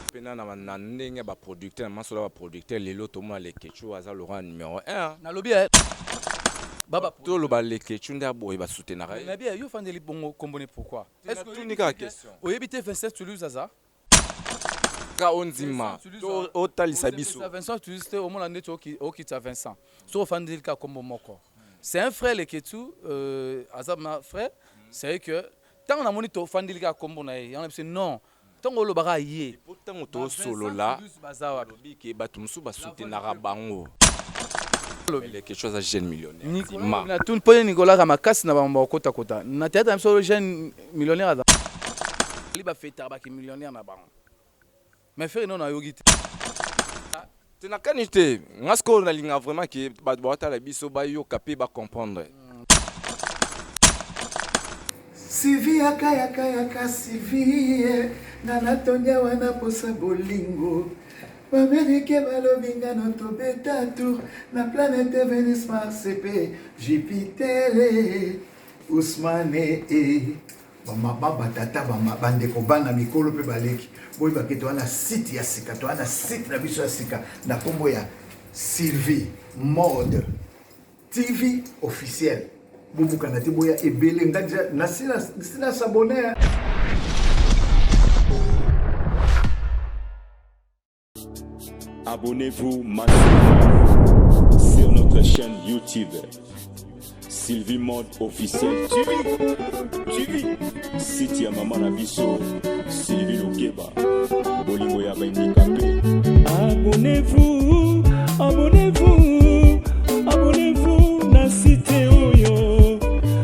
mpena na, na ndenge ya baproducteur na masolo ya baproducteur lelo tomona leketshou aza lokola numero 1 nalobi eh, baba toloba leketshou nde aboye basutenaka ye nabi eh, yo ofandeli bongo kombone pourquoi Est-ce que natuni kaka question oyebi te vincent toulouse aza ka ondima to otalisa biso Okitisa Vincent Tulis te omona ndeti oki- okitisa Vincent soki ofandeli kaka kombo moko c'est un frère leketsu euh, aza na frère c'est vrai que ntango namoni tofandeli kaka kombo na ye yango na biso non ntango olobaka ye po ntango Ba Vincent tosolola Tulis baza wapi olobi ke bato mosusu basutenaka bango Olobi. leke chose ya jeune millionnaire Nicolas Ndima. Lobi na tuni mpo ye Nicolas ka makasi na bango bakokotakota na théâtre na biso jeune millionnaire aza li ba fêter ba ki millionnaire na bango mais ferre non ayoki te te na kani te nga sikoyo nalinga vraiment ke bato baotala biso bayoka mpe bacomprendre sivi yakayakayaka sivie nga natonya wana posa bolingo bamerike balobi nga no tobeta tour na planete venus mars mpe jupiter Ousmane eh, bamaba batata bandeko bana mikolo mpe baleki boyeba ke toza na site ya sika toza na site na biso ya sika na nkombo ya sylvie mode tv officiel bobukana te boya ebele nga deja nasila sabone Abonnez-vous maintenant sur notre chaîne YouTube Sylvie Mode officiel TV site ya mama na biso Sylvie Lokeba bolingo ya baindikape Abonnez-vous abonnez-vous abonnez-vous na site oyo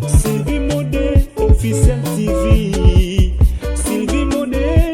Sylvie Mode officiel TV Sylvie Mode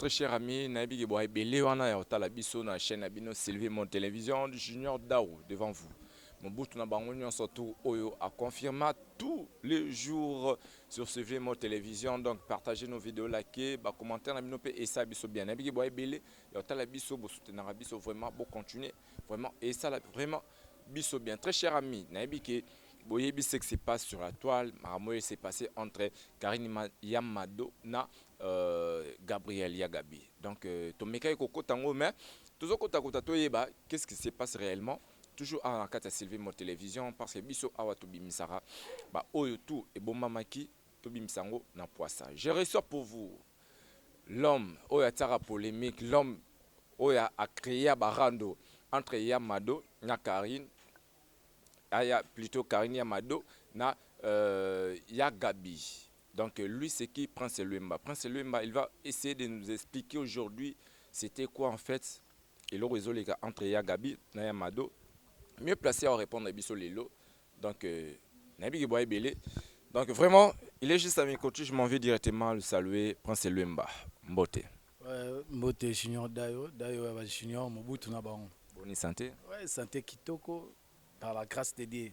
très cher ami nayebi ke boyebele wana ya kotala biso na chaîne ya bino sylvie mon télévision du junior dao devant vous mobutu na bango nyonso tu oyo aconfirma tous les jours sur sylvie mon télévision donc partagez nos vidéos lake bacommentaire na bino mpe esa biso bien nayebi ke boyebele Ya tala biso bo soutenaka biso vraiment bo continuer vraiment et ça vraiment biso bien très cher ami nayebi que boyebi ce qui se passe sur la toile makambo s'est passé entre Karine Yamado na euh, Gabriel ya Gabi donc euh, tomekaki kokota yango mais tozokota kota toyeba qu'est-ce qui se passe réellement toujours awa na kati ya Sylvie Mo Télévision parce que biso awa tobimisaka baoyo tout ebombamaki Tobimisa yango na pwasa. Je reçois pour vous l'homme oyo atiaka polemique, l'homme oyo a crea ba rando entre Ya Mado na Carine, aya plutot Carine Ya Mado na euh, Ya Gabi. Donc lui c'est qui Prince Luemba. Prince Luemba il va essayer de nous expliquer aujourd'hui c'était quoi en fait eloko ezoleka entre Ya Gabi na Ya Mado. Mieux placé à répondre biso lelo Donc, euh, nayebi ke boa ebele. Donc vraiment, il est juste à mes côtés, je m'en vais directement le saluer, Prince Luemba. Mbote. Ouais, mbote Junior Dayo, Dayo ya ba Junior Mobutu na bango. Bonne santé. Ouais, santé kitoko par la grâce de Dieu.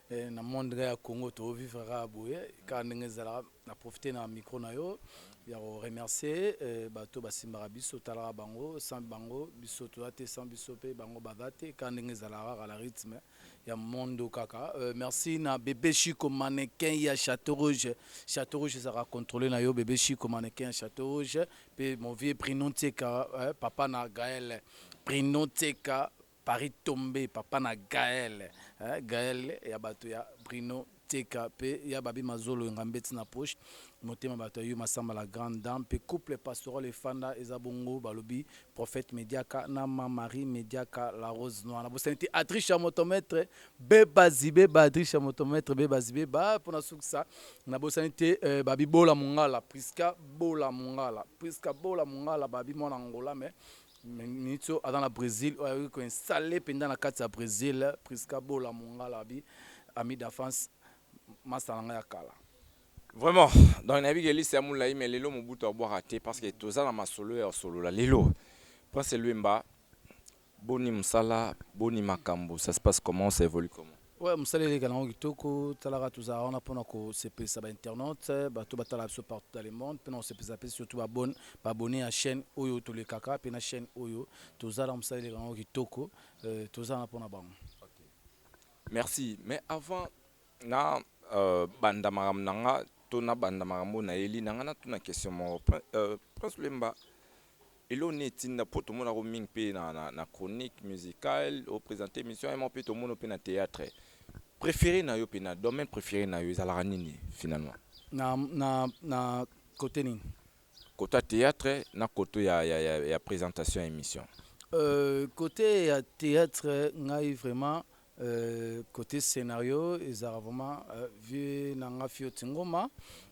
Eh, na monde ya Congo to vivre ka boye ka ndenge zala na profiter na micro na yo ya ko remercier eh, bato basimbaka biso talaka bango sans bango biso toza te sans biso pe bango baza te ka ndenge zala kaka la rythme eh. ya mondo kaka euh, merci na bebe chico mannequin ya chateau rouge chateau rouge ezalaka contrôle na yo bebe chico mannequin ya chateau rouge mpe mon vieux prino nseka euh, papa na gael prino nseka paris tombe papa na gael euh, gael ya bato ya prino Teka pe ya babi mazolo enga mbeti na poche motema batu ya yo massamba la grande dame pe couple pastoral efanda eza bongo balobi prophète mediaka na ma marie mediaka la rose noir na bosani te adricha moto maitre beba zibeba adricha moto maitre beba zibeba pona sukisa na bosani te euh, babi bola mungala prisca bola mungala prisca bola mungala babi mwana angola mais Minitio aza na Brésil oyo ayoki koinstalle mpenza na kati ya Brésil Prisca Bola Mongala abi ami d'enfance masta na ngai ya kala. Vraiment donc nayebi ke liste ya mulayi mais lelo mobutu abwaka te parce que toza na masolo ya osolola lelo Prince Luemba boni musala boni makambo ça se passe comment ça evolue comment? Ouais, mosala eleka nango kitoko talaka tozala wana mpona kosepelisa ba internaute bato batala biso partout dans le monde mpona kosepelisa mpe surtout babone babone ya chaîne oyo tolekaka mpe na chaîne oyo tozala mosala eleka nango kitoko euh, toza wana mpona bango merci mais avant na euh, banda makambo na nga to na banda makambo na eli na nga natuna question moko euh, prince lemba Eloko nini etinda po tomonaka yo mingi pe na na chronique musicale o presenter emission ya moko pe tomona pe na theatre prefere na yo pe na domaine prefere na yo ezalaka nini finalement? Na na na cote nini? Cote ya theatre na cote ya ya ya presentation ya emission. Euh, cote ya theatre ngai vraiment Euh, cote scenario ezalaka vraiment euh, vie na nga fioti ngoma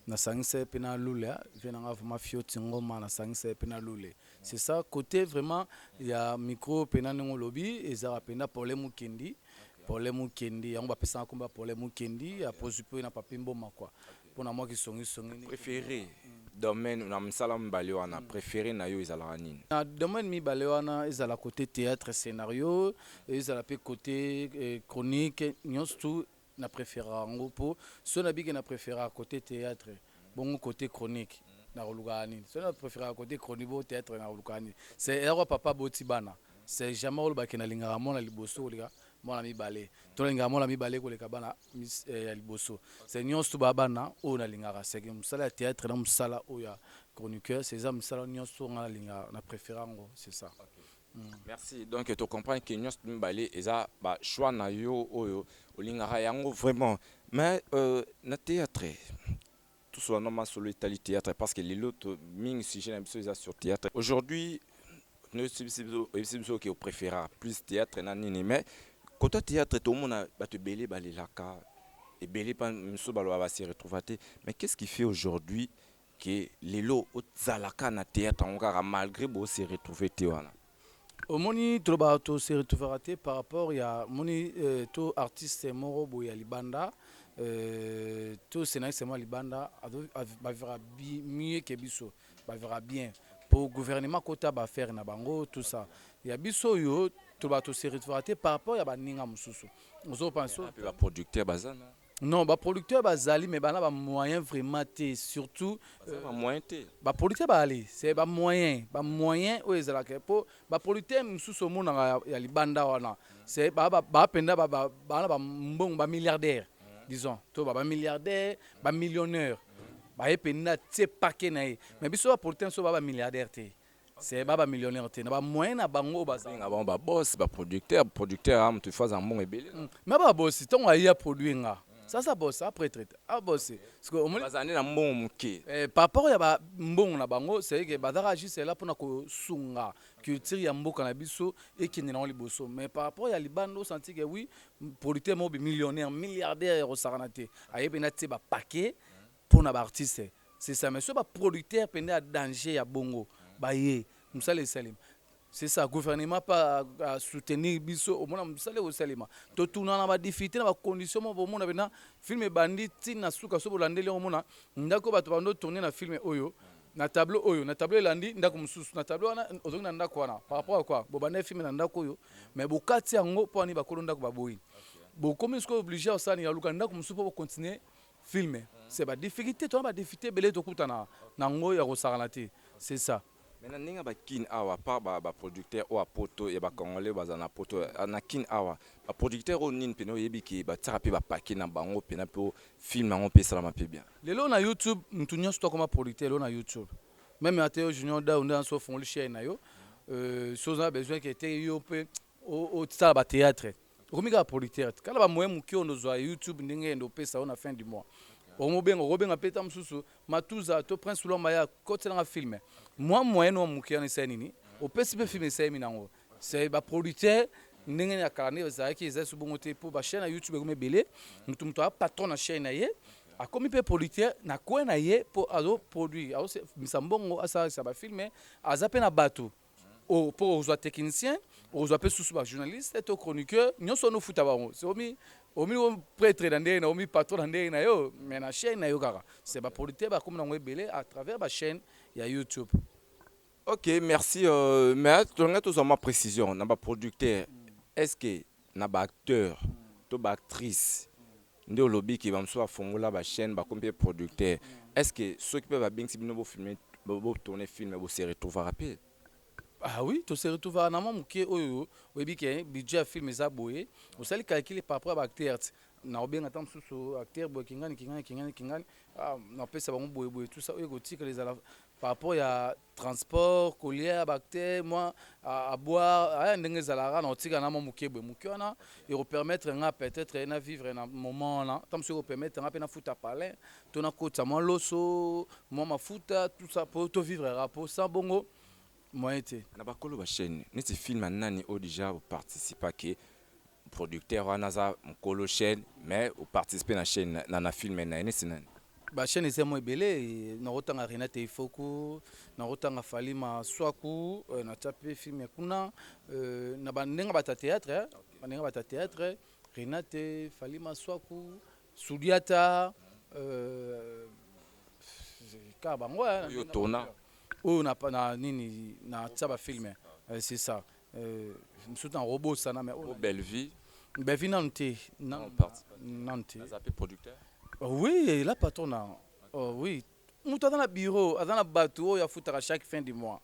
nasangisa ye mpe na lule vie na nga vraiment fioti ngoma nasangisa ye mpe na lule c'est ça cote vraiment ya micro mpe na ndenge olobi ezalaka mpenza pole mokendi pole mokendi yango bapesaka nkombo ya pole mokendi ya pozupe na papi mboma kua okay. Pona mwa ki songi songi. Prefere domaine na misala mibale wana prefere nayo ezalaka nini? Na domaine mibale wana ezala cote theatre scenario ezala pe cote chronique nionso tout na preferaka yango po soki na biki na preferaka cote theatre bongo cote chronique nako lukaka nini? Soki na preferaka cote chronique bongo theatre nako lukaka nini? C'est eya kaka papa aboti bana c'est jamais oloba ke na lingaka mwana liboso koleka mwana mibale tolingaka mwana mibale koleka bana eh, ya liboso se nyonso ba bana oyo nalingaka seke mosala ya théâtre na mosala oyo ya chroniqueur seza misala nyonso nga nalingaka na préféré yango c'est ça mm. merci donc to comprendre que nyonso mibale eza ba choix na yo oyo olingaka yango vraiment mais euh, na théâtre Tous wana masolo etali theatre parce que lelo to mingi sujet na biso eza sur theatre. Aujourd'hui no sibisi biso ebisi biso ke prefera plus theatre na nini mais kota theatre to mona bato ebele balelaka ebele pa miso baloba ba se retrouva te mais qu'est-ce qui fait aujourd'hui que lelo ozalaka na theatre yango kaka malgré bo se retrouver te wana. Omoni toloba to se retrouvera te par rapport ya moni euh, to artiste moko boye ya libanda euh, to scénariste moko ya libanda bavera mieux que biso bavera bien po gouvernement kota baaffaire na bango tout ça ya biso oyo toloba to se retrouvera te par rapport ya baninga mosusu ozopanso baproducteur bazana Non, ba producteurs bazali mais bana ba moyens vraiment te surtout euh, ba moyens te. Ba producteurs bazali, c'est ba moyens, ba moyens oyo ezalaka po ba producteurs mosusu omonaka ya, ya libanda wana, c'est ba ba, ba penda ba ba bana ba mbongo ba milliardaires disons to ba ba milliardaires, ba millionnaires. Baye penda tie paquet na ye. Mais biso ba producteurs so ba ba milliardaires te. C'est ba ba millionnaire te na ba moyen na bango baza. Nga bango ba boss ba producteur producteur a mutu faza mbongo ebele. Hmm, mais ba boss tongo ayi a produit nga. Sasa boss a prêtre a boss. Parce que omoni baza na mbongo muke. Eh par rapport ya ba mbongo na bango c'est que bazaka juste là pona ko sunga culture ya mboka na biso et qui ne li bosso. Mais par rapport ya libando senti que oui producteur mo bi millionnaire milliardaire ya ko sakana te. Ayebi na tie ba paquet Pona ba artistes c'est ça mais soki ba producteurs pende ya danger ya bongo baye musala esalema c'est ça gouvernement pe a soutenir biso omona musala eko salema totuna na ba difficultes na ba conditions moko bomona penda film ebandi ti na suka soki bolandeli yango omona ndaku oyo batu bando tourner na film oyo na tableau oyo na tableau elandi ndaku mususu na tableau wana ozongi na ndaku wana par rapport à quoi bobandaki film na ndaku oyo mais bokati yango pona nini bakolo ndaku baboyi bokomi sikoyo oblige ya kosala nini ya koluka ndaku mususu po bo continuer film c'est ba difficultes toza ba difficultes ebele tokutana na ngo ya kosakana te c'est ça. Mais na ndenge ya ba kin awa à part ba producteurs oyo ya poto ya ba congolais oyo bazala na poto na kin awa ba producteurs oyo nini pena oyebi ke batiaka pe ba paquets na bango pena po film yango pe esalama pe bien? Lelo na youtube mutu nionso to akoma producteur lelo na youtube meme ata yo junior dawu nde yanso ofungoli chaine na yo soki oza na besoin ke te yo pe Otisala ba theatre okomi kaka producteur tikala ba moyen muke ondo zwa youtube ndenge ende opesa yo na fin du mois omobenga okobenga pe ta mususu matuza to prince lwamba ya kotela nga film mwa moyen wa muke wana esali nini opesi pe film esali minango c'est ba producteur ndenge ya kala nde ezalaki ezali so bongo te po ba chaîne ya youtube ekomi ebele mutu mutu a patron na chaîne na ye akomi pe producteur na coin na ye po azo produire azo misa mbongo asalisa ba film aza pe na batu Oh, po ozwa technicien ozwa pe susu ba journaliste to chroniqueur nyonso wana ofuta bango omi omi pretre na ndenge na omi patron na ndenge na yo mais na chaîne na yo kaka c'est ba producteurs ba komi nango ebele à travers ba chaîne ya YouTube ok merci euh, mais tolinga tozwa ma précision na ba producteurs est ce que na ba acteurs to ba actrices Nde olobi ke ba mosusu ba fongola ba chaine bakomi pe producteur est ce que soki pe ba bengisi bino bo filme bo tourne film bo se retrouvaka pe? Ah oui to se retrouvaka na mwa mukie oyo oyebi ke budget ya film eza boye osali calcul par rapport ya ba acteurs nako benga ata mosusu acteur boye kingani kingani kingani kingani ah nako pesa bango boye boye tout ça oyo ekotikala ezala par rapport ya transport kolia bacte mwa aboire ndenge ezalaka na otika na mwa moke boye moke wana ekopermettre nga peut-être na vivre na moment wana ntango mosusu ekopermettre nga mpe nafuta palin to nakotisa mwa loso mwa mafuta tout ça mpo tovivre rapo sans bongo moyen te na bakolo bachaine neti film ya nani oyo deja oparticipa ke producteur wana aza mukolo chaine mais o participer na chaine na na film naye neti nani? Ba chaine eza mwa ebele nako tanga Renate Ifoku nako tanga Fally Masuaku na tia pe film ya kuna na ba ndenge ya batu theatre ba ndenge ya batu theatre Renate Fally Masuaku Sudiata kaka bango hein oyo na nini na tia ba film c'est ça Euh, mosusu na kobosana mais oh, Bellevue Bellevue nanu te nanu te aza pe producteur oh, oui la patrona oh, oui moto aza na bureau aza na bato oyo afutaka chaque fin du mois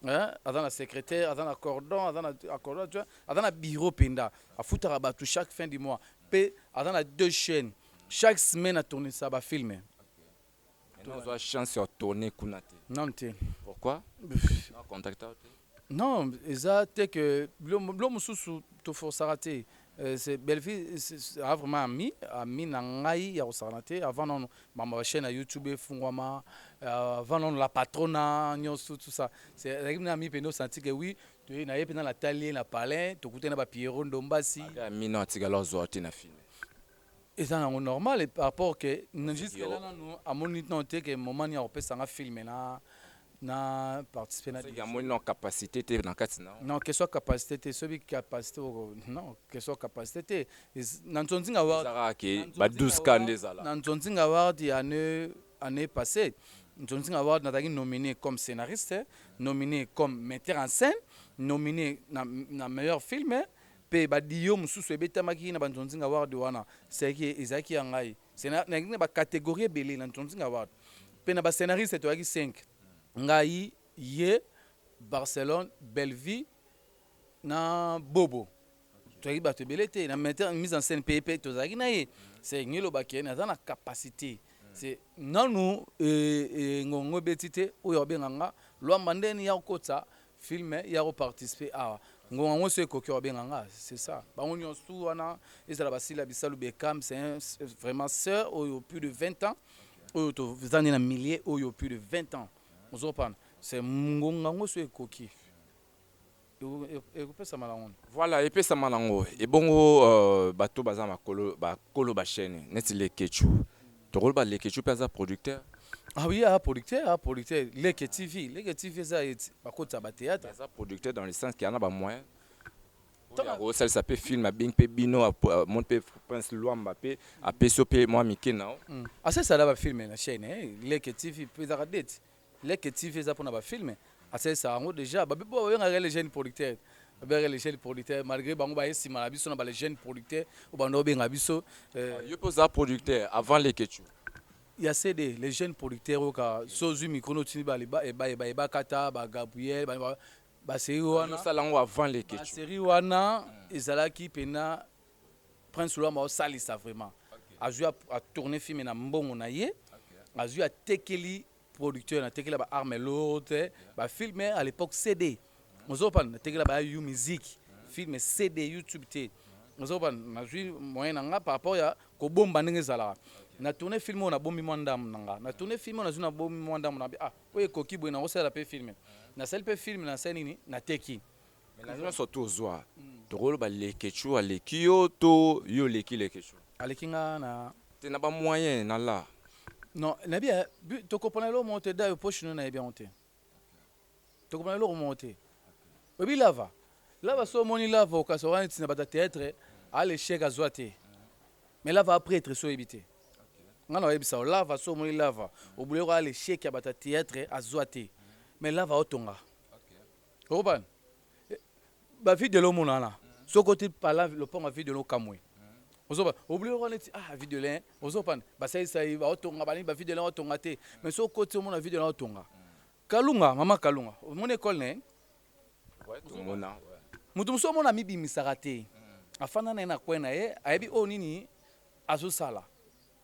mm. hein? aza na secrétaire aza na cordon aza na acordon tu vois aza na bureau mpenza afutaka bato chaque fin du mois mpe aza na deux chaînes chaque semaine atournisa bafilme Maintenant, tu as chance de tourner kuna te. Non te. Pourquoi? Non contacter te. Non, eza te que blo mususu to forçaka te. Euh, c'est Bellevue a vraiment ami, ami na ngai ya kosakana te. Avant non, mama chaîne ya YouTube efungwama, euh, avant non la patrona nyonso tout ça. C'est ezalaki na ami pende osanti que oui, toye na ye pende na tali ye na palais, tokutani na ba Pierrot Ndombasi. Ami non atikala ozwa te na film. Eza na ngo normal par rapport que jusque là nanu amoni non te que moment ni akopesa nga film na na participer na ya moni non capacité te na kati na non que soit capacité te sobi capacité non que soit capacité te na nzonzinga wa zara ke ba 12 cas nde zala na nzonzinga wa di année année passée nzonzinga wa na taki nominé comme scénariste nominé comme metteur en scène nominé na na meilleur film Mpe badiyo mosusu ebetamaki na banzonzinga ward wana, ce que ezalaki ya ngai. Sena, nayaki na ba categories ebele na nzonzinga ward. Mpe na ba scenaristes toyaki cinq, ngai, ye, Barcelone, Bellevue na Bobo. Toyaki bato ebele te, na metteur en mise en scène mpe ye mpe tozalaki na ye. Ce elingi eloba que naza na capacite. Ce nanu ngonga yango ebeti te, oyo akobenga nga, Luamba nde eni, ya kokotisa Film ya ko participer awa ngonga ngo so ekoki obenga nga c'est ça bango nionso tout wana ezala basila bisalu Beckham c'est un vraiment sœur oyo plus de 20 ans oyo toza nde na milieu oyo plus de 20 ans ozopana c'est ngonga ngo so ekoki ekopesama na ngoni voilà epesama na ngo ebongo euh, bato baza makolo bakolo bashene neti lekechu Toko loba leketshou pe aza producteur? Ah oui aza producteur aza producteur leke TV leke TV eza ba kotisa ba theatre. Mais aza producteur dans le sens que aza na ba moyens oyo ako salisa pe film abengi pe bino amoni pe prince luamba pe apesi yo pe mua mike na yo. Asalisa na ba film na chaine leke TV pe ezalaka date Leke TV eza pona ba film asalisaka yango dejà ba bibo babengaka les jeunes producteurs babengaka les jeunes producteurs malgré bango baye sima na biso na ba les jeunes producteurs oyo banda obenga biso euh, ah, yo mpe oza producteur avant leketshou ya cd les jeunes producteurs oyo ka so ozwi micro notindi baye bakata ba gabriel baserie wana avant leketshou baserie wana ezalaki mpena Prince Luambo azosalisa vraiment azwi atourne filme na mbongo na ye azwi atekeli producteur natekela ba arme lourde ba filme à l'époque cd ozopana natekela ba yu musique filme cd youtube te ozopana nazwi moyen na nga par rapport ya kobomba ndenge ezalaka na tourne film oyo nabombi mwa ndambo na nga na tourne film oyo nazwi nabombi mwa ndambo na ah oyo ekoki boye nakosalela mpe filme nasali mpe filme nasali nini nateki Mais na nionso to zwa toko loba leketshou aleki yo to yo oleki leketshou? Aleki nga na. Te na ba moyen na la. Non na bi eh toko pona eloko moko te dayo poche no na yebi yango te toko pona eloko moko te oyebi lava lava so omoni lava okasa oka neti na bata theatre a le chèque azwa te mais lava a pretre so oyebi te nga na oyebisa yo lava so omoni lava obule ko a le chèque ya bata theatre azwa te mais lava otonga okobana ba video lo mona na soko ti pala lopango ya video lo kamwe ozoba obulio wana ti ah video le ozopana basalisa ye baotonga balingi ba video le otonga te mais soko koti omona video le otonga kalunga mama kalunga omoni ekole na ye tomona moto mosusu omona amibimisaka te afanda na ye na kwe na ye ayebi oyo nini azosala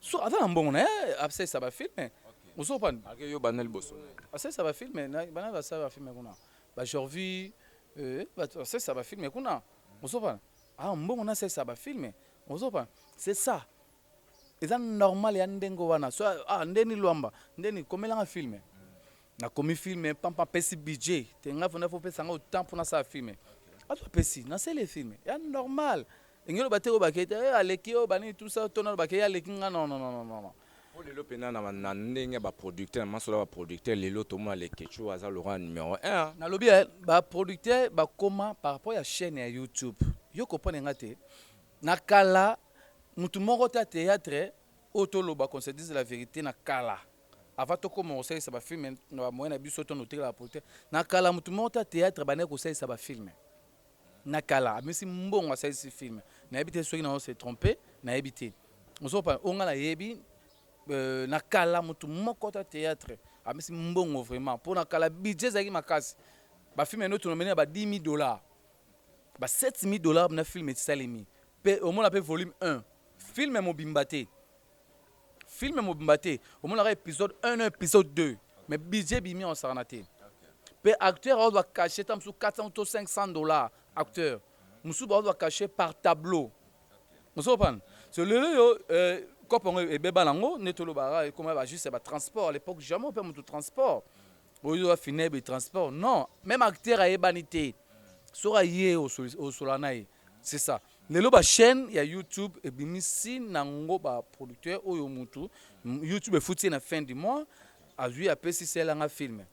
So aza na mbongo na ye asalisa ba filme ozo panda ake yo banda liboso asalisa ba filme bana basala ba filme kuna ba Jorvi euh, asalisa ba filme kuna ozo panda ah mbongo na asalisa ba filme ozo panda c'est ça eza normal ya ndenge wana so ah ndeni lwamba ndeni komelanga filme Na komi film pampa apesi budget te nga vanda faut pesa nga temps pona sa film azo apesi na sele film ya normal engelo bate ko bakete eh, aleki yo bani tout ça tona bakete aleki nga non non non non po lelo pena na na ndenge ba producteur na masola ba producteur lelo tomona le kechu aza lora numero 1 na lobi eh, ba producteur ba koma par rapport ya chaîne ya YouTube yo comprendre nga te na kala mutu moko ta théâtre oyo toloba qu'on se dise la vérité na kala Avant tokoma kosalisa ba films na ba moyens na biso to na otekela ba producteurs, na kala moto moko te ya theatre abandaki kosalisa ba films. Na kala amesi mbongo asalisi film. Nayebi te soki nazo se tromper, nayebi te. Ozo comprendre? Oyo nga nayebi na kala moto moko te ya theatre amesi mbongo vraiment po na kala budget ezalaki makasi. Ba films naino tonomeli na ba 10.000 dollars, ba 7.000 dollars na film esalemi pe omona pe volume un. Film mobimba te. film mobimba te omonaka episode 1 na episode 2 mais budget bimi osakana te mpe acteur aozwa cachet ta mosusu 400 to 500 dollars acteur mosusu baozwa cachet par tableau mosusu opana so lelo yo euh, kopo yango ebeba nango nde tolobaka ekoma ba juste ya batransport à l'époque jamais ope moto transport oyo afinebe transport non même acteur ayebani te soki aye osola na ye C'est ça. Lelo ba chaîne ya YouTube ebimisi nango ba producteurs oyo mutu YouTube efuti na fin du mois azui apesi sela nga film.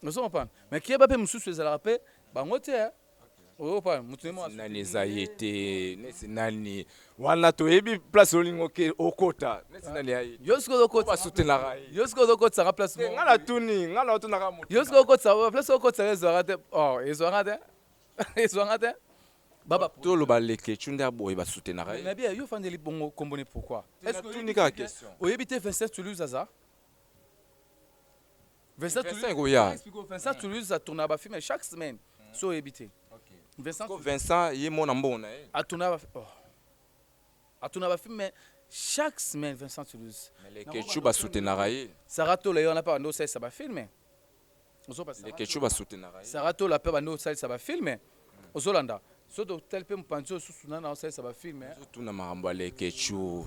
Ozo comprendre? Mais keba pe mususu ezalaka pe bango te. Hein? Oyo pa mutu ne mo nani eza ye te. Nesi nani wana toyebi place olingo ke okota. Nesi nani ya ye. Yo sikoyo okota. Ba soutenaka ye. Yo sikoyo okota nga place mo. Ngala tuni, ngala otunaka mutu. Yo sikoyo okota place okota ezwaka te. Oh, ezwaka te. ezwanga te baba toloba leke chunda boye ba soutenaka ye bien yo fandeli bongo kombone pourquoi est-ce que tu nika question oyebi te Vincent Toulouse aza Vincent Toulouse ko ya Vincent Toulouse a tourna ba film chaque semaine hmm. so oyebi te Vincent ko Vincent ye mona mbona ye a tourna ba oh. a tourna ba film chaque semaine Vincent Toulouse mais leke chuba soutenaka ye Sarah Tola yo na pa ndo sa ba film ozoba leketshou ba soutenaka ye Sarah tola pe abandi kosalisa ba films ozolanda soki totali pe mopanzi oyo susu nana azosalisa ba films ozo tuna makambo ya leketshou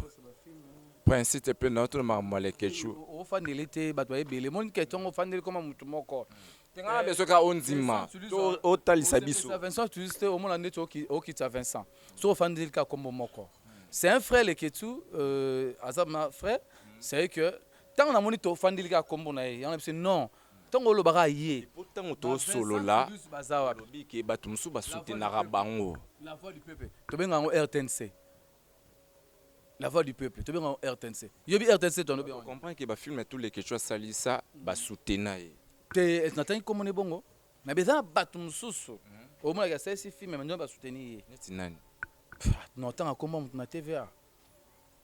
prince te pe nazo tuna makambo ya leketshou ofandela ye te batu baye ebele omoni ke tongo ofandeli koma mutu moko te nga na besoin kaka ondima to otalisa biso Osepelisa Vincent Tulus te omona ndeti oki- okitisa Vincent soki ofandeli kaka kombo moko c'est un frère leketsu euh, aza ma frère c'est que Tango na moni to fandeli kaka kombo na ye yango na biso non tango oloba kaka ye tango to solola baza wapi olobi ke batu musu ba soutenaka bango la voix du peuple to benga yango rtnc la voix du peuple to benga yango rtnc yobi rtnc to lobi comprendre ke ba film ya tous les kecho asali sa ba soutena ye te na tangi kombo ne bongo mais beza batu mususu mhm. omona ke asali film mais ndio ba soutenir ye neti nani non tanga kombo mutu na tva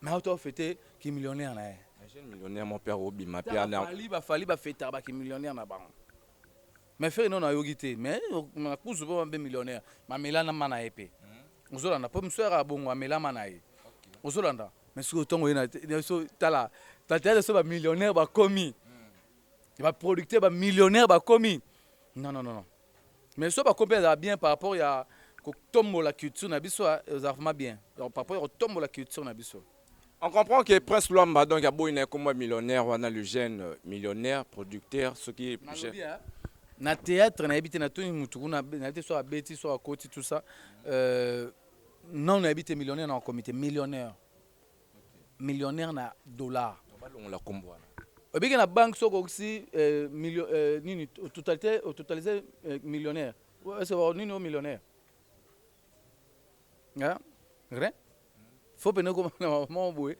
Mais auto fete ki millionnaire na ye. Un jeune millionnaire mon père obima père na. Fali ba fali ba feta ba ki millionnaire na bango. Mais ferre non ayoki te mais na kuzu ba be millionnaire ma melana mana ye pe. Hmm. Ozolanda po mswera bongo amela mana ye. Ozolanda mais siko tongo ye na so tala ba tala so ba millionnaire ba komi. Hmm. Ba producteur ba millionnaire ba komi. Non non non non. Mais soki bakomi pe ezala bien par rapport ya ko tombola culture na biso ah, ezala vraiment bien donc par rapport ya ko tombola culture na biso. On comprend que Prince Luamba donc aboyi na ye kombo ya millionnaire wana le jeune euh, millionnaire producteur soki je- Nalobi ya, na théâtre nayebi te natuni mutu kuna abe- nayebi te soki abeti soki akoti tout ça euh, nanu nayebi te millionnaire na komite millionnaire millionnaire na dollars balongola kombo wana obiki na banque soko okisi euh, million euh, nini totalité totaliser euh, millionnaire c'est bon nini au millionnaire hein rien faut pene comme na maman boye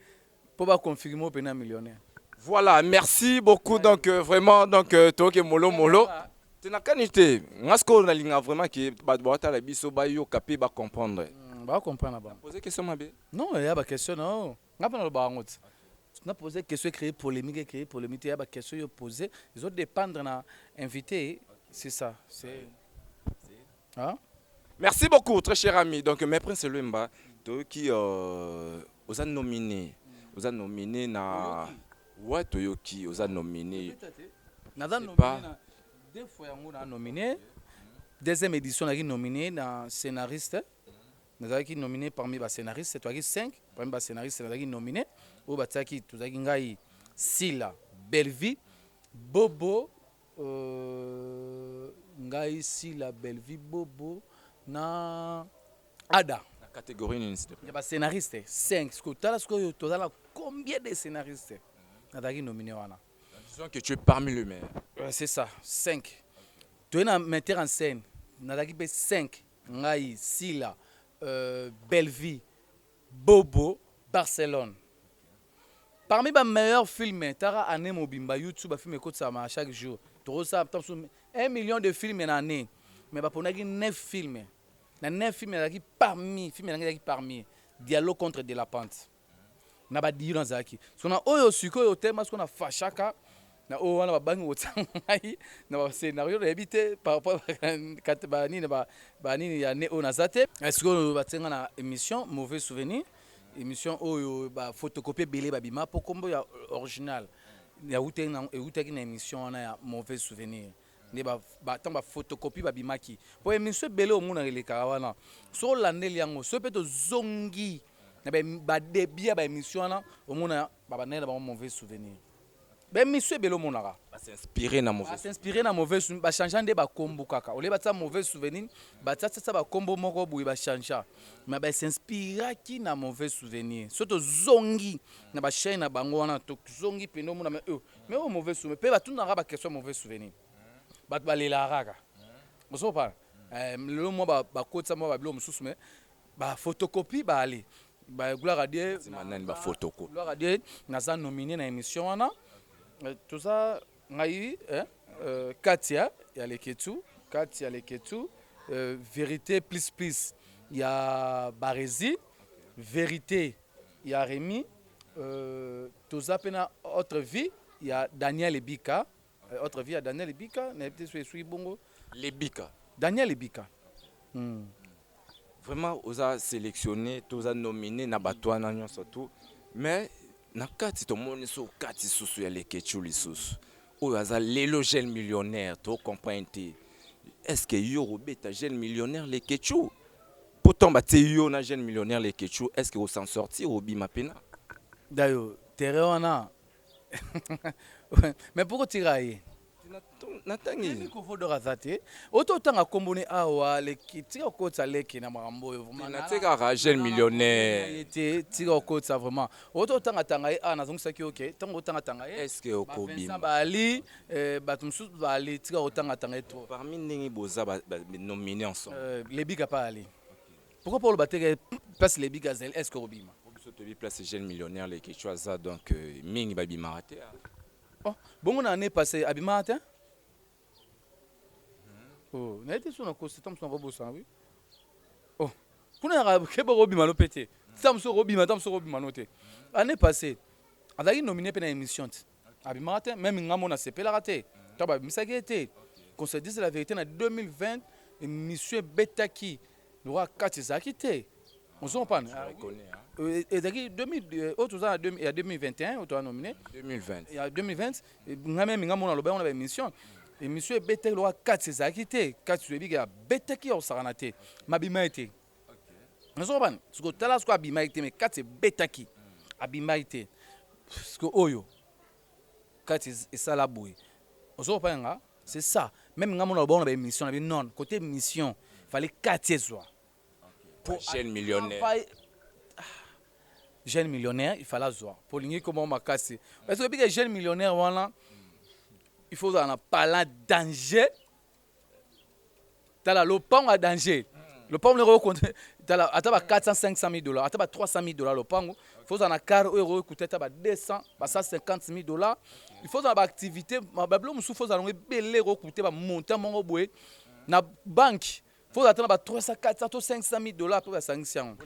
pour ba confirmer pene millionnaire voilà merci beaucoup donc euh, vraiment donc euh, toke molo molo tinakani te nga sikoyo nalinga vraiment ke bato baotala biso bayoka mpe bacomprendre hmm, bacomprendre ba pose question mabe Non, il y a ba question na yo. Nga pe nalobaka yango ti. Na poser question e créer polemique, e créer polemique te. Ya ba question yo poser, ezo dependre na invité, c'est ça. C'est Hein? Merci beaucoup, très cher ami. Donc, Maître Prince Luemba, toyoki euh, oza nominé, oza nominé na ouais toyoki oza nominé. Naza C'est nominé pas- na deux fois yango na nominé. Deuxième édition naki nominé na scénariste. nazalaki nomine parmi ba scénariste tozalaki 5 parmi ba scénariste nazalaki nomine oyo batiaki tozalaki ngai sila bellevie bobo euh, ngai sila bellevie bobo na ada na catégorie nini ya ba scénariste 5 sikoyo tala sikoyo toza na combien de scénariste nazalaki nomine wana disons que tu es parmi le maire euh, c'est ça 5 toye na metteur en scène nazalaki mpe 5 Ngai sila euh bellevue bobo Barcelone parmi ba meilleur film tala annee mobimba youtube ba film ekotisama chaque jour toko sala ata mosusu un million de film na annee mais ba ponaki neuf film na neuf film nazalaki parmi film na ngai ezalaki parmi dialogue contre de la pente na ba diyo nazalaki so na oyo sikoyo tellement siko na fashaka na oyo wana babangi kotia ngai na ba scenario nayebi te par rapport ba nini ba ba nini ya ne oyo naza te eh, sikoyo batie ngai na émission mauvais souvenir émission oyo ba photocopie ebele babima mpo kombo ya original ewutaki na émission wana ya mauvais souvenir nde ba, ba tango ba photocopie ba bimaki po emission ebele omonaka elekaka wana soki olandeli yango soki pe tozongi na ba, ba debut ya ba emission wana omona ba bandaki na bango mauvais souvenir ba emission ebele omonaka ba s'inspirer na mauvais ba s'inspirer na mauvais souvenir ba changea nde ba kombo kaka olie batia mauvais souvenir batia tia ba kombo moko boye ba changea mais ba s'inspiraki na mauvais souvenir soki tozongi na ba chaine na bango wana tozongi pende omona mais euh mais oyo mauvais souvenir mpe batunaka baquestion mauvais souvenir bato balelaka kaka ozopa eh, lelo mwa bakotisa mwa babilo mosusu me bafotokopi baale bagulaka die nani bafotokopi glaka die naza nomine na émission wana eh, toza ngai eh, euh, katia ya leketu katia leketu euh, vérité plus plus ya barezi vérité ya remi Euh, toza mpe na autre vie ya Daniel Ebika euh, autre vie ya Daniel Ebika nayebi te so eswi bongo Lebika Daniel Ebika hmm. vraiment oza sélectionné toza nominé na bato wana nyonso tout mais na kati tomoni so kati susu ya leketchu lisusu oyo aza lelo jeune millionnaire to comprendre te est ce que yo obeta jeune millionnaire leketchu Po tant ba tie yo na jeune millionnaire leketshou est ce que o s'en sortir obima pena? Dayo terrain wana mais pourquoi otika ye? Na tangi. Nayebi kovo d'or aza te. Oto otanga kombo ne awa leki tika kokotisa leki na makambo oyo vraiment. Na tikaka jeune millionnaire. Ye te tika kokotisa vraiment. Oto otanga tanga ye awa nazongisaki yo ke tango otanga tanga ye. Est ce que okobima? Ba Vincent ba Ali Eh, bato mosusu baali tika kotangatanga ye trop parmi ndenge boza nomine ensemble euh, lebika pa ali pourquoi paolo bateke place lebika azali est ce que obima biso toyebi place jeune millionnaire lekecu aza donc euh, mingi babimaka te ah. oh, bongo na année passé abimaka te hmm. oh, naye te so nakosi ta mosu nakobosana wi oh, kuna yaka keba kobima no mpe te ta mosu okobima ta mosu okobima no te année passé azalaki nomine mpe na émission te abimaka te meme nga mona sepelaka te to babimisaki ye te qu'on se dise la vérité na 2020 émission ebetaki lokola kati ezalaki te ozo comprendre ezalaki oyo toza ya 2021 oyo toza nomine ya 2020 nga meme nga mona aloba yango na baémission émission ebetaki lokola kati ezalaki te kati toyebi ke abetaki ya kosakana te mabima ye te nazo bana siko tala siko abimaki te mais kati ebetaki abimaki te siko oyo kati esala boye ozo kopana nga c'est ça même nga mona lobona ba émission na bi non côté émission fallait kati ezwa pour jeune millionnaire ah, jeune millionnaire il fallait azwa po lingi koma makasi est-ce que bika jeune millionnaire wana il faut ozala na pala danger tala lopango ya danger lopango noko okonde tala ata ba 400 500 mille dollars ata ba 300 mille dollars lopango il faut ozala na car oyo okoki kuta ata ba 200 ba 150 mille dollars il faut ozala ba activité babilo mosusu faut ozala yango ebele okoki kuta ba montant moko boye na banque faut ozala ata na ba 300 400 to 500 mille dollars mpe basangisi yango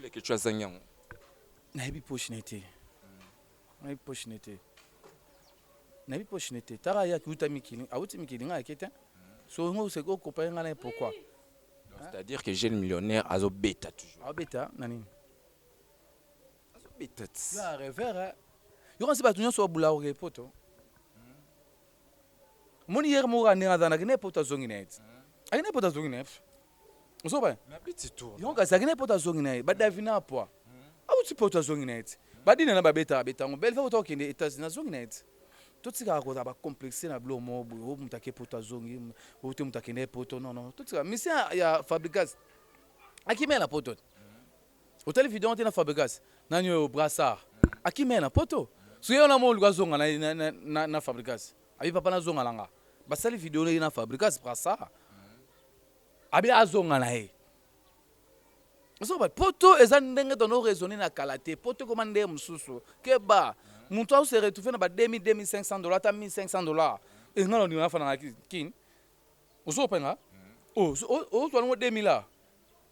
nayebi poche na ye te Nayebi poche ne te. Nayebi poche ne te. Tara ya kiuta mikili, awuti mikili nga yake te. So ngo se ko comparer nga na pourquoi? C'est-à-dire que jeune millionnaire azo beta toujours. Azo beta na nini? Azo beta. Ya revera. Yo kasi batu nyonso babula oke poto. Moni hier moko andinga zana kine poto azongi na yeti. Akine poto azongi na yeti. ozoba eh? na biti tour donc azalaki na ye poto azongi na ye badavi na apwa auti poto azongi na ye ti badina na babeta abeta yango belve auta kokende états-unis azongi na ye ti totikaka kozala bacomplexe na bilo moko boye o moto ake poto azongi o te moto akende ye poto non non totika misi ya fabricas akimela na poto te otali video yango te na fabricas nani oyo brassard akimela na poto soki yo na mo oluka azonga na, na, na, na, na fabricas abi papa nazonga na nga basali video na ye na fabricas brassard Abi azonga na ye. Ozo ba poto eza ndenge tono raisonner na kala te. Poto ekoma ndenge mususu. Keba. Mutu azo se retrouver na ba 2000, 2500 dollars ata 1500 dollars. Eh nga na ndima na fanda na kin. Ozo penga? Oh ozo zwa ngo 2000 la.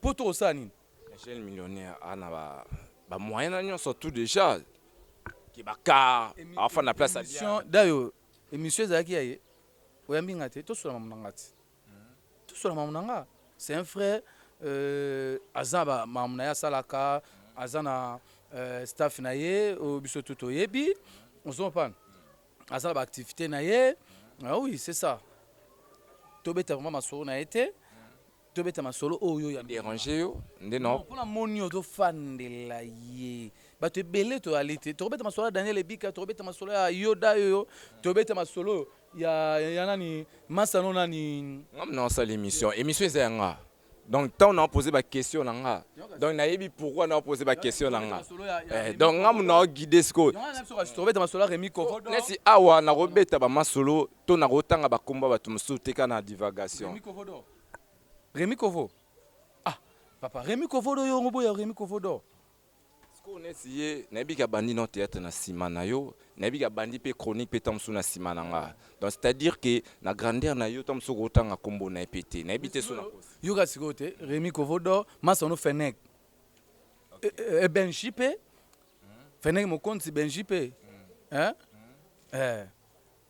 Poto kosala nini? Jeune millionnaire a na ba ba moyens na nionso tout dejà. Ke ba car, afanda place ya bien. Emission dayo emission ezalaki ya ye. Oyambi nga te, to sula mamu na nga te. tosola mamu na nga c'est un frère euh, aza ba mamu na ye asalaka aza na euh, staff na ye oyo biso tu toyebi ozo comprendre aza na ba activité na ye ah oui c'est ça tobeta vraiment masolo na ye te tobeta masolo oyo ya dérange yo nde no mpona moni yo tofandela ye bato ebele toyali te tokobeta masolo ya daniel ebika tokobeta masolo ya yoda yoyo tobeta masolo oyo Ya, ya nani masta no nani. Nga mna osala emission emission eza ya nga donc tango na pose ba question na nga donc na yebi pourquoi na pose ba question na nga eh, donc nga mna o guide siko tobeta masolo remi kovo nesi awa na ko beta ba masolo to na ko tanga ba komba batu mususu teka na divagation remi kovo do remi kovo ah papa remi kovo do yo ngobo ya remi kovo do Sikoyo neti ye nayebi ke abandi nao theatre na sima na yo, nayebi ke abandi pe chronique pe tango mosusu na sima na nga donc c'est à dire ke na grandeur na yo tango mosusu oko tanga kombo na ye pe te nayebi te soki na kosi. Yoka sikoyo te Remy Kovo d'or, Masta no Fenech et Benji pe, Fenech Mokonzi, Benji pe hein eh.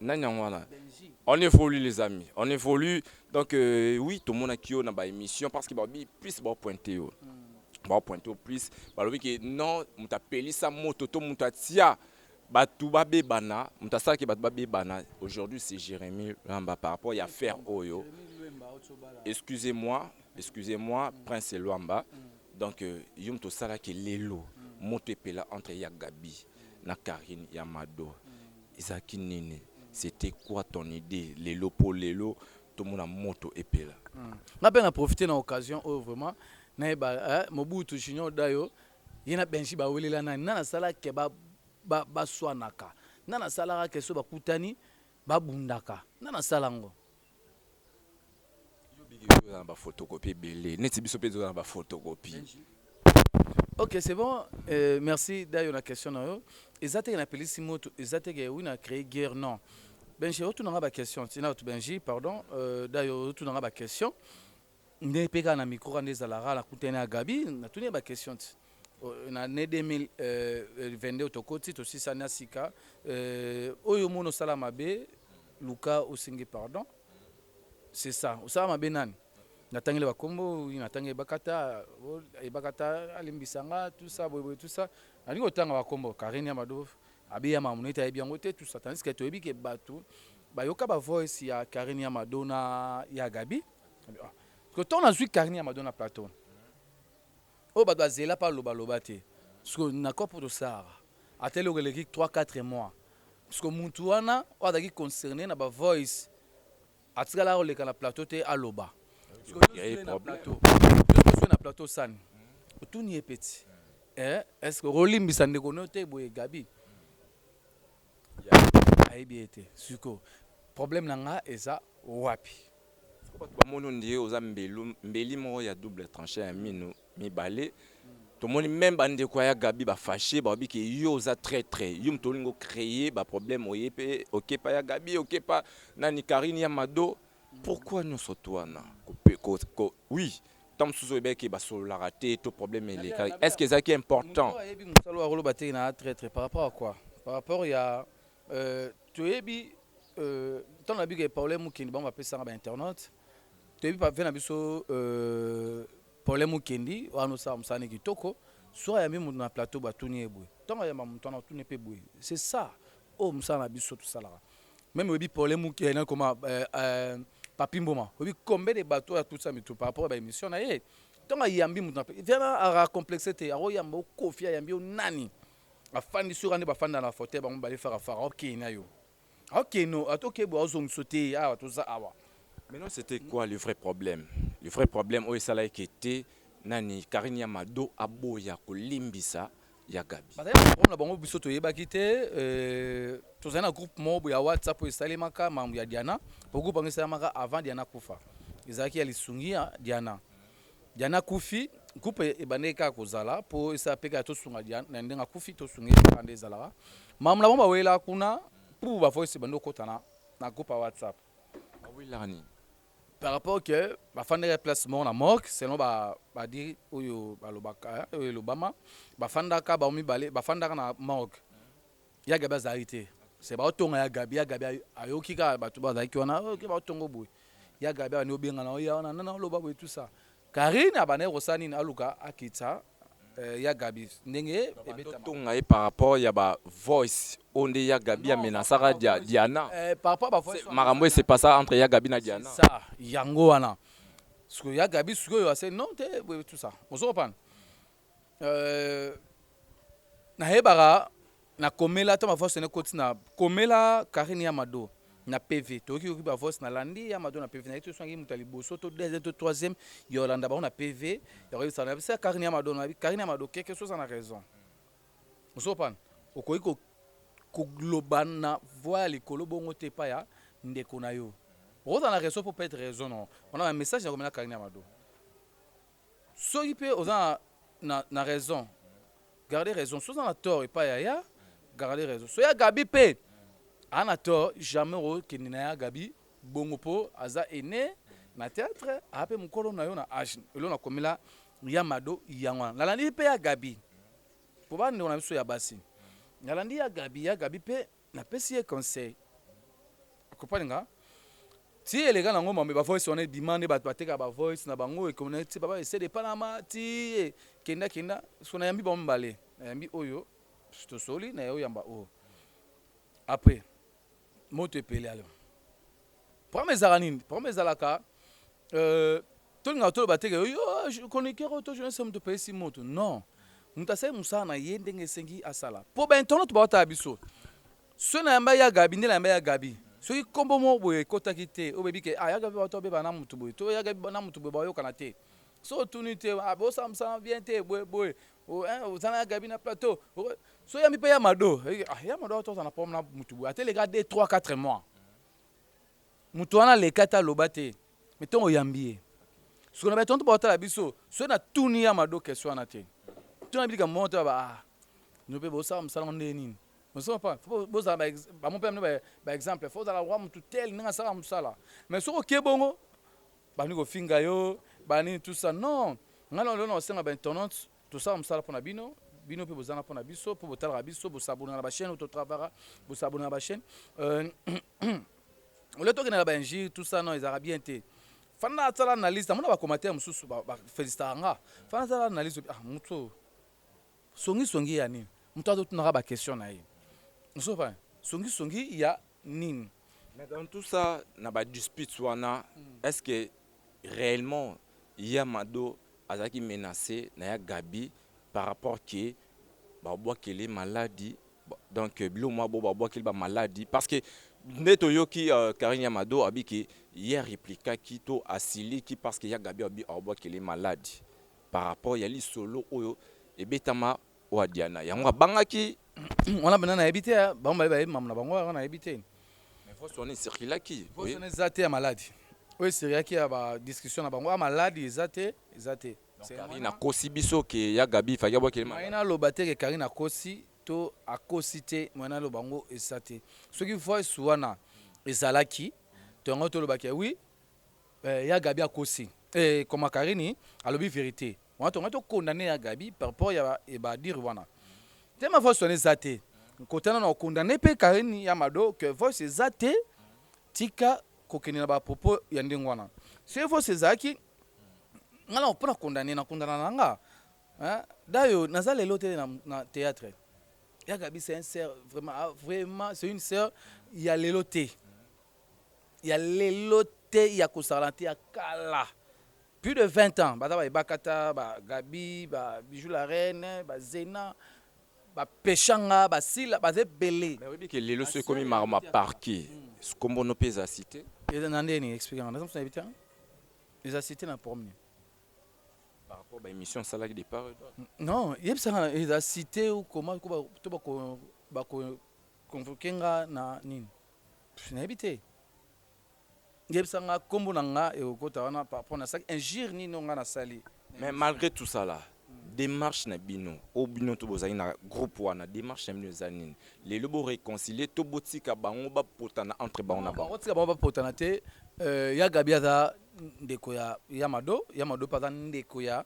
Nani yango wana? On évolue les amis, on évolue. Donc euh, oui, tout le monde a qui na ba émission parce que ba bi plus ba pointer yo. Ba pointer au plus, ba lobi que non, muta pelisa moto to muta tia batu ba bebana, muta sala que batu ba bebana. Aujourd'hui c'est Jérémy Lamba par rapport ya faire oyo. Excusez-moi, excusez-moi Prince Luamba. Donc euh, yo muto sala que lelo moto epela entre ya Gabi na Karine ya Mado. Ezalaki nini? C'etait quoi ton idee lelo po lelo tomona moto epela? Nga pe na profiter na occasion oyo vraiment nayeba eh Mobutu Junior Dayo ye na Benji ba welela nani? Nani asala que ba ba swanaka? Nani asalaka que soki ba kutani ba bundaka? Nani asala yango? Ok c'est bon euh, merci d'ailleurs la question na yo eza teke na pelisi moto eza teke oui na créer guerre non benji otunanga ba question tina otu benji pardon euh, d'ailleurs otunanga ba question Nde pe kaka na micro wana nde ezalaka na kutani na Gaby na tuni ye ba question ti na annee 2022 oyo tokoti tosisani na sika oyo omoni osala mabe luka osengi pardon c'est ça osala mabe nani na tangi le ba kombo oui na tangi ebakata ebakata alimbisa nga tout ça boye boye tout ça na lingi otanga ba kombo Karine Amado abeya mamu nete ayebi yango te tout ça tandis que toyebi ke batu bayoka ba voice ya Karine Amado na ya Gaby Sikoyo ntango nazwi karni ya mado na plateau oyo bato bazela mpe alobaloba te, sikoyo na kop oyo tosalaka ata eloko eleki 3 4 mois, sikoyo mutu wana oyo azalaki concerne na ba voice atikalaka koleka na plateau te aloba sikoyo na plateau na plateau sani otuni ye peti eh, est-ce que olimbisa ndeko no te boye Gabi Yaya ayebi ye te sikoyo problème na nga eza wapi. Soki batu ba moni ondire oza mbelu mbeli moko ya double tranche ya minu mibale tomoni meme ba ndeko ya gaby ba fache ba lobi ke yo oza traitre yo mutu olingi o cree ba problème oye pe okepa ya gaby okepa nani carine ya mado Pourquoi nionso tout wana oui temps mosusu oyebaki ke basololaka te to problème elekaki est ce que ezalaki important moto ayebi mosala oyo akoloba te na traitre par rapport à quoi par rapport ya euh, toyebi euh, ntango nayebi ke paulin mukendi bango bapesaka bainternaute toyebi pave na biso euh, paulin mukendi wana osala mosala ne kitoko soki ayambi moto na plateau batuni ye boye ntango ayamba moto wana otuni ye mpe boye c'est ça oyo oh, mosala na biso tosalaka Meme oyebi problème muke eh, na koma euh, euh, Papi Mboma. Oyebi combien de bateaux ya tutsa mitu par rapport à ba émission na ye. Tonga yambi mutu na pe. Vraiment a complexe te. Aro yamba o kofi ya yambi o nani. Afandi sur ande bafanda na fauteuil bango bale faire afara. OK na yo. OK no atoke bo azong sauter awa toza awa. Maintenant c'était quoi le vrai problème? Le vrai problème oyo esala ekete nani Karine ya Mado aboya kolimbisa ya Gabi. Bazali na problème na bango biso toyebaki te euh, tozali na groupe moko ya WhatsApp oyo esalemaka mambo ya Diana po groupe yango esalemaka avant Diana kufa ezalaki ya lisungi ya Diana Diana kufi groupe ebandaki kaka kozala po esala mpe kaka tosunga Diana na ndenge akufi tosunga ye nde ezalaka mambo na bango bawelaka kuna pour ba voice ebandi kokota na, na groupe ya WhatsApp bawelaka nini par rapport que bafandaka place moko na morgue selon ba ba dire oyo balobaka oyo elobama bafandaka bango mibale bafandaka na morgue ya gabi azalaki te se baotonga ya gabi ya gabi ayoki kaka bato bazalaki wana oke baotongo boye ya gabi abandi obenga na oya wana nana oloba boye tout ça karine abandaki kosala nini aluka akitisa Euh, ya Gabi ndenge ebeta tonga ye par rapport ya ba voice oyo nde ya Gabi ya menasaka dia, Diana euh, par rapport ba voice makambo ese pasa entre ya Gabi na Diana ça yango wana sikoyo ya Gabi sikoyo ase non te tout ça ozo comprendre euh, nayebaka Na komela ata ma voice n'ekoti na komela Carine y'a Mado na PV toyoki yoki ba voice na landi y'a Mado na PV nayebi te soki nayaki moto ya liboso to deuxième to troisième ya kolanda bango na PV ya koyebisa na biso y'a Carine y'a Mado na Carine y'a Mado kiekie soki oza na raison ozo comprendre okoki ko koloba na voix ya likolo bongo te epai ya ndeko na yo okozala na raison po peut raison na yo wana ba message na komela Carine y'a Mado Soki pe oza na na raison garde raison soki oza na tort epa ya ya garde raison soki ya gaby pe aza na tort jamais oko kende na ya gaby bongo po aza aine na theatre aza pe mukolo nayo na age eloko na komela ya mado yango wana nalandi pe ya gaby po ba ndeko na biso ya basi nalandi ya gaby ya gaby pe Na pesi ye conseil o comprendre nga ti eleka na ngo mambe ba voice wana ebima nde bato bateka ba voice na bango ekona ti papa ese de panama ti ye kenda kenda siko na yambi bango mibale na yambi oyo tosoli na yo yamba oyo après moto epele alors problème ezalaka nini problème ezalaka Euh, tolingaka toloba te ke yo chroniqueur oyo to journaliste moto opesi moto non moto asali mosala na ye ndenge esengi asala mpo bainternaute baotala biso soki nayamba ya gabi nde nayamba ya gabi soki nkombo moko boye ekotaki te obebi ke ah, ya gabi bato babeba na moto boye to ya gabi na moto boye bayokana te so otuni te ah, bosala mosala bien te boye boye oza na ya gabi na plateau so yambi mpe ya mado ah, ya mado ato aza na problème na moto boye ateleka 2 3 4 mois Moto wana aleka te aloba te mais tongo oyambi ye siko na batonto baotala biso soki na tuni ya mado question wana te tuna bilika mbongo te baba ah no mpe bosala mosala ngo ndenge nini osoma pa fo bozala bamo mpe amino baexemple fo ozala wa motu tel ndenge asala mosala mais soki oke bongo bani kofinga yo banini tusa non ngai lelo na osenga baintonante Tosala mosala pona bino, bino pe bozanga pona biso po botalaka biso, bo s'abonner na ba chaine oyo to travaka, bo s'abonner na ba chaine euh, olie tokende na ba injure tout ça non ezalaka bien te fanda asala analyse namona ba commentaire mosusu ba felicitaka nga fanda asala analyse ah moto oyo songi songi ya nini moto azotunaka ba question na ye osopa songi songi ya nini mais dans tout ça na ba disputes wana mm. est ce que Reellement ya mado azalaki menace na ya gaby par rapport que ba bwakeli maladi donc biloko mua bo ba bwakeli ba maladi parce que nde toyoki carine ya mado abi que ye a replikaki to asiliki parce que ya gaby abi abwakeli maladi par rapport ya lisolo oyo ebetama Oa Diana yango abangaki. Wana banda nayebi te hein, bango baye bayebi mamu na bango wana nayebi te. Mais voice wana ecirculaki. Voice wana eza te ya maladi. Oyo ecirculaki ya ba discussion na bango ya maladi eza te, eza te. Donc Carine akosi biso que ya Gaby fallaki abwakela ye maladi. Moyen aloba te que Carine akosi to akosi te, moyen aloba yango eza te. Soki voice wana ezalaki to yango toloba que oui ya Gaby akosi. Ehh comment Carine alobi verite. Wana tonga to condamner ya Gabi par rapport ya ba dire wana. Tema voice wana eza te. Nkotana na condamner pe Karine ya Mado que voice eza te. Tika kokende na ba propos ya ndenge wana. Soki voice ezalaki nga na pona condamner na condamna na nga. Hein? Dayo naza lelo te na, na théâtre. Ya Gabi c'est un sœur vraiment ah, vraiment c'est une sœur ya lelo te. Ya lelo te ya kosala te ya kala. Plus de 20 ans baza ba ebakata ba Gabi ba Bijou la reine ba Zena ba peshanga ba Sila baza ebele. Mais oyebi ke lelo so ekomi maro ma parquet kombo no pe eza cite. Eza na ndenge nini explique nga naza mutu na yebi te hein eza cite na prom nini? Par rapport ba emission osalaki de part et d'autre. Non yebisa nga eza cite ou comment ko ba to ba ko ba ko convoque nga na nini? Pff na yebi te. Yebisa nga kombo na nga ekokota wana par rapport na saki injure nini oyo nga nasali. Mais malgré tout ça là, demarche na bino o bino to bozali na groupe wana demarche na bino eza nini lelo bo reconcilier to botika bango bapotana entre bango na bango botika bango bapotana te euh, ya gabi aza ndeko ya ya mado ya mado mpe aza ndeko ya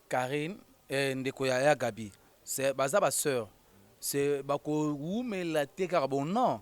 carine eh, ndeko ya ya gabi c'est baza ba sœur c'est bakowumela te kaka bon non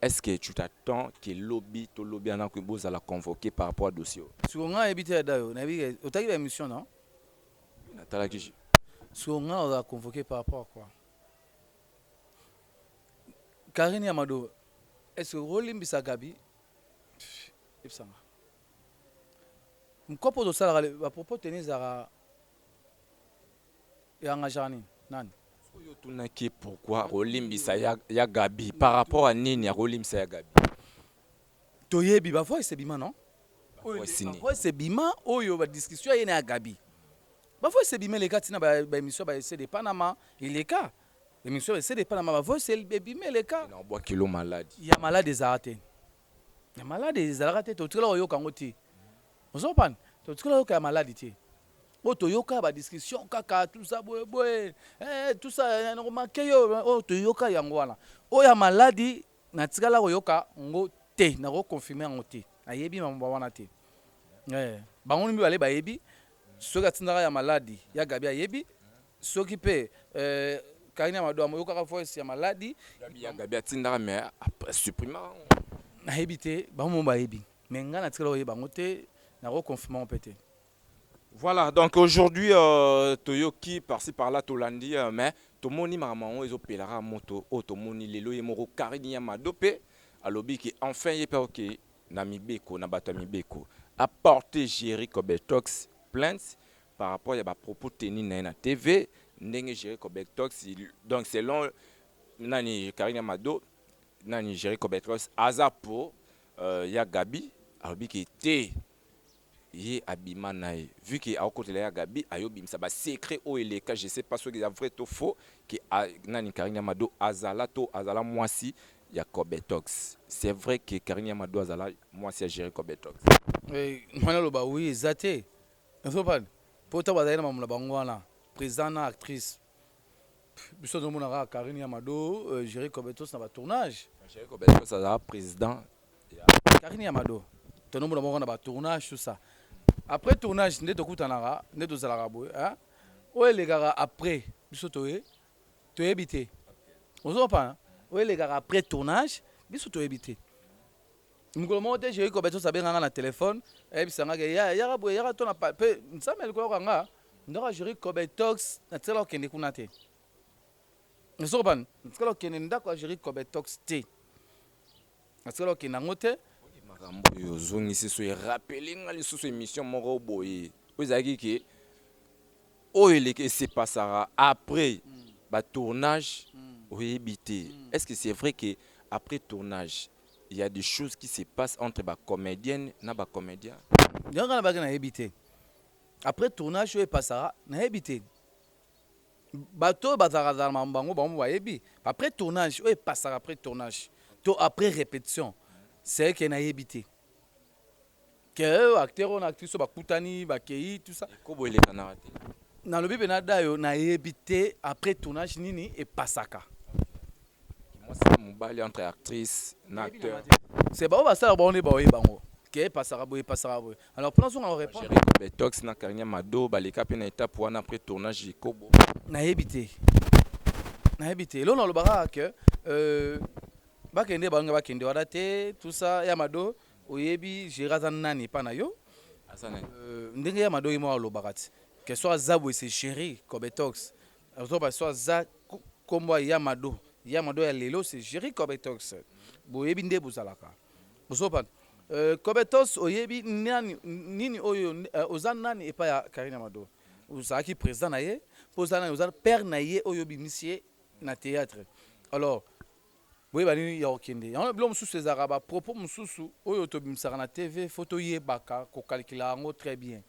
Est ce que tu t'attends que lobi to lobi ana que bozala convoquer par rapport à dossier oyo? Sikoyo nga nayebi te ya Dayo, nayebi ke otaki ba emission na yo? Oui natalaki je. Sikoyo nga nazala convoquer par rapport à quoi? Carine ya Mado est ce que okolimbisa Gabi? Yebisa nga. Mkopo tosalaka ba propos tenus ezalaka E engageaka nini? Nani? Soki yo otunaki ye pourquoi akolimbisa ya ya Gaby par rapport à nini akolimbisa ya Gaby? Toyebi ba voice ebima non? Oyo Voice nde ba nini? voice ebima oyo ba discussion ya ye na ya Gaby. Ba voice ebima eleka ti na ba ba emission ya ba ese de Panama eleka emission ya ba ese de Panama ba voice el ebima eleka. Nao bwa kilo maladi. Ya malade ezalaka te. ya maladi ezalaka te totikala koyoka yango te ozopana totikala yoka ya maladi te oyo toyoka ya badiscussion kaka tusa boyeboye eh, tusa nakomake yo oyo toyoka yango wana oyo ya maladi natikala koyoka yango te nakokonfirme yango te nayebi mambo wana te eh, bango mibale bayebi soki atindaka ya maladi ya gabi ayebi soki pe euh, Karine ya Madoa moyokaka voice ya maladi ya Gabi atindaka mais après supprime nayebi te bango mo bayebi mais ngai natikala koyeba yango te nako confirme yango mpe te Voilà, donc aujourd'hui, euh, Toyoki, par-ci par-là, Tolandi, euh, mais Tomoni Mamango, ils ont payé la moto, oh, Tomoni, les lois, Moro, Karine, Yamadope, à l'obi, qui enfin, il est pas ok, Namibeko, Nabata Mibeko, a porté Jerry Kobetox, plainte, par rapport ya ba propos tenus na ye na TV ndenge Jerry Cobectox donc selon nani Karine Mado nani Jerry Cobectox aza po euh, ya Gabi alobi ke te ye abima na ye vu ke akokotela ya Gabi ayobimisa ba secret oyo eleka je sais pas soki eza vrai to faux ke a, nani Karine Mado azala to azala mwasi ya Cobetox c'est vrai que Karine Mado azala mwasi ya Jerry Cobetox Eh, mwana loba oui eza te Nazopane po tango bazali na mamu na bango wana president na actrice biso tozo mona kaka carine ya mado jere cobetos na ba tournage jere cobetos aza president ya carine ya mado tono mona bango na ba tournage tout ça après tournage nde tokutanaka nde tozalaka boye hein oyo elekaka après biso toye toyebi te ozopana oyo elekaka après tournage biso toyebi te mokolo moko te jeri kobetos abenga nga na telefone ayebisa nga ke ya yaka boye yaka tona mpe nzambe alikolo yoka nga ndako ya jeri kobetox natikala kokende kuna te osokopan natikala kokende ndako ya jeri kobetox te natikala kokende yango te makambo oyo ozongisi so erapele nga lisusu émission moko boye oyo ezalaki ke oyo eleki esepasaka après mm. batournage mm. oyebi te mm. est ce que c'est vrai ke après tournage il ya des choses qui se passe entre ba comedienne na ba comedia yango nga nabaki nayebi te après tournage oyo epasaka nayebi te bato oyo bazalakazala na bango bango bayebi après tournage oyo epasaka après tournage to après répétition c'est que nayebi te que acteur on actrice oyo bakutani bakei tout ça ekobo elekanaka te nalobi mpe na dayo nayebi te après tournage nini epasaka mwasi na mobali entre actrice na acteur se baoyo basalaka bango nde baoye bango ke epasaka boye epasaka boye alors mpo nazonga Jerry korepondre Betox na Carine Mado baleka mpe na etape wana après tournage ekobo nayebi te nayebi te eloo naloba kaka ke euh, bakende bange bakende wana te tout ça ya mado Oyebi Gérard aza nani epa na yo? Aza nani? Euh, ndenge ya madoki moko alobaka ti que soit aza boye c'est Jerry Cobetox. Azo ba soit aza ko- kombo ya Yamado. Yamado ya lelo c'est Jerry Cobetox. Boyebi nde bozalaka. Ozo ba euh, Cobetox oyebi nani nini oyo euh, oza nani epa ya Karine Amado? Ozalaki président na ye, po oza nani oza père na ye oyo obimisi ye na théâtre. Alors Boyeba nini ya kokende yango na biloko mosusu ezalaka ba propos mosusu oyo tobimisaka na TV faut toyebaka ko calculer yango très bien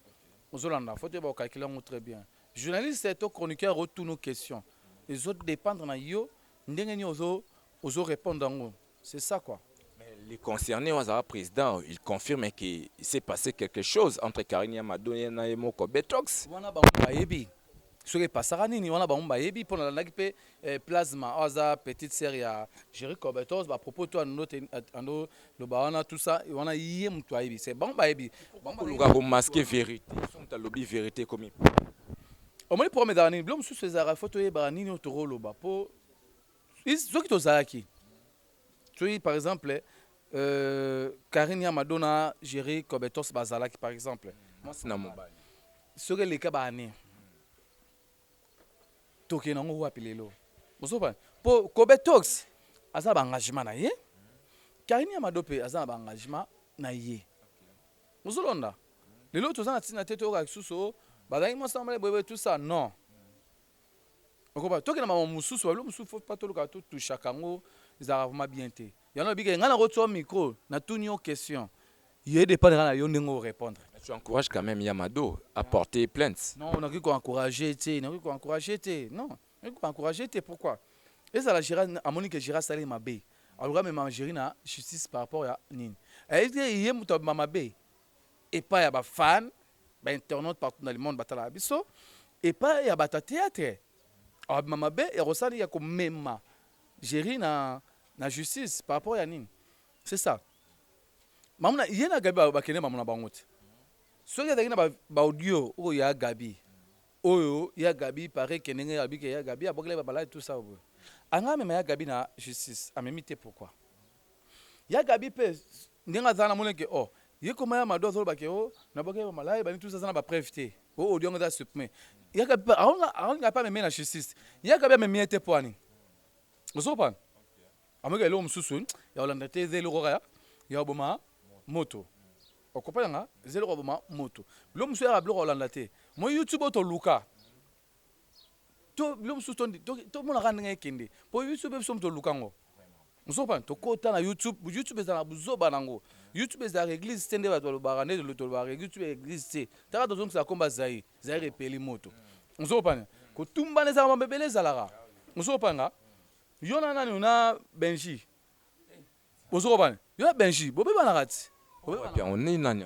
ozolanda faut toyeba ko calculer yango très bien journaliste to chroniqueur otuna question ezo dependre na yo ndenge nini ozo ozo repondre yango c'est ça quoi. Mais le concerne oyo azalaka president il confirme que il s'est passe quelque chose entre Carine ya Mado na ye moko Betox. Wana bango bayebi soki epasaka nini wana bango bayebi mpo nalandaki mpe eh, plasma oyo aza petite sœur ya Jerry Cobetos bapropos to ando te- ando loba wana tout ça wana ye moto ayebi se bango bayebi Bango bayebi. koluka komaske verite so moto alobi verite ekomi omoni problème ezalaka nini bilo mosusu ezalaka fo toyebaka nini oyo tokoloba mpo Soki tozalaki soki par exemple euh, Karine ya Madonna Jerry Cobetos bazalaki par exemple mwasi na mobali soki eleka ba année tokende yango wapi lelo ozoba mpo Cobetos aza ba engagement na ye Karine ya Mado mpe aza na ba engagement na ye ozolonda lelo toza na ntina te toyoka lisusu oh, bazalaki mwasi na mobali boyeboye tout ça non okoba toke na mama mosusu babilo mosusu fo pa toluka totushaka yango ezalaka vraimen bien te yango nabika engai nakotswa micro natuni yo question ye dépendre kaka na yo ndenge orépondre tu encourage quand même yamado apporter plainte non nakoki koencourage te nakoki koencourage te non nakoki koencourage te pourquoi ezala gira amoni ke gira asali mabe aluka mema giri na justice par rapport ya nini ayebi ye moto abima mabe epai ya bafane ba internautes partout dans le monde batalaka biso epa ya bata theatre abima mabe ya kosala ya komema Jerry na na justice par rapport ya nini c'est ça mamu na ye na Gabi bakende mamu na bango te soki azalaki na ba audio oyo ya Gabi oyo ya Gabi pare ke ndenge abike ya Gabi abokele ba balade tout ça oyo anga mema ya Gabi na justice amemi te pourquoi Ya Gaby pe ndenge aza wana amoni ke oh ye koma ya Mado azoloba ke oh nabwakaki ba malaya ebandi tout ça aza na ba preuves te oh audio yango eza supprimer ya Gaby pe aolinga pe amema ye na justice ya Gaby amemi ye te pona nini ozo comprendre amoni ke eloko mosusu ya kolanda te eza eloko kaka ya koboma moto okopa nanga eza eloko ya koboma moto biloko mosusu yaka biloko ya kolanda te moi YouTube oyo toluka to bilo musu to to mona ka ndenge ekende po biso pe biso muto luka ngo muso pa to kota na youtube youtube ezala buzoba na ngo youtube ezala eglise te nde ba to lo bara nde to lo bara youtube eglise te taka to zongi sa komba zayi zayi repeli moto muso pa ko tumba ne zala mabebe le zala ka muso pa nga yo na nani na benji muso pa yo benji bobe bana kati obe bana kati nani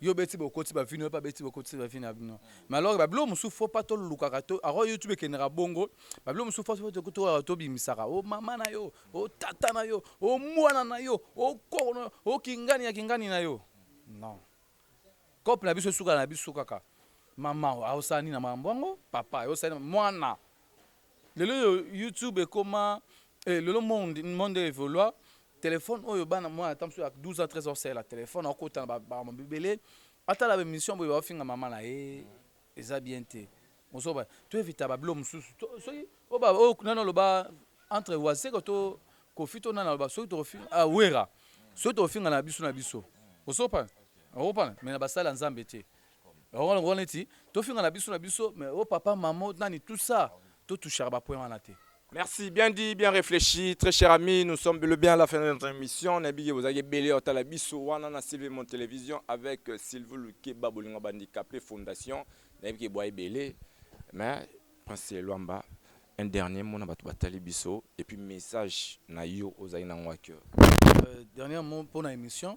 Yo beti bokoti ba vino epa beti bokoti ba vino abino. Mais alors ba bilo musu faut pas to lukaka to aro YouTube kendra bongo ba bilo musu faut pas to kutu to bimisaka o mama na yo o tata na yo o mwana na yo o koko na o kingani ya kingani na yo non cop na biso suka na biso kaka mama o sani na mambo ngo papa o sani mwana Lelo yo YouTube ekoma eh, lelo monde monde evolua téléphone oyo bana mwana ata mosusu ya 12 ans 13 ans salela téléphone akokota na bamakambo ebele atala baémission boye baofinga mama na ye eza bien te ozoba to evita babilo mosusu To- soki oyo ba- oyo nani oloba entre wazeka to kofi to nani aloba soki tokofinga ah, wera soki tokofinga na biso na biso osopana okopana me na basali ya nzambe te Bango lokola neti tofinga na biso na biso mais o oh papa mamo nani tout ça to touchaka ba point wana te. Merci, bien dit, bien réfléchi. Très cher ami, nous sommes le bien à la fin de notre émission. Nabigé, vous avez belé au Talabiso, Wanana Sylvie Mon Télévision, avec euh, Sylvie Luke Babolinga Bandicapé Fondation. Nabigé, Boye Belé. Mais, Prince Luamba, un dernier mot na Batouba Talibiso, et puis message na yo aux Aïna Waker. Euh, dernier mot pour l'émission.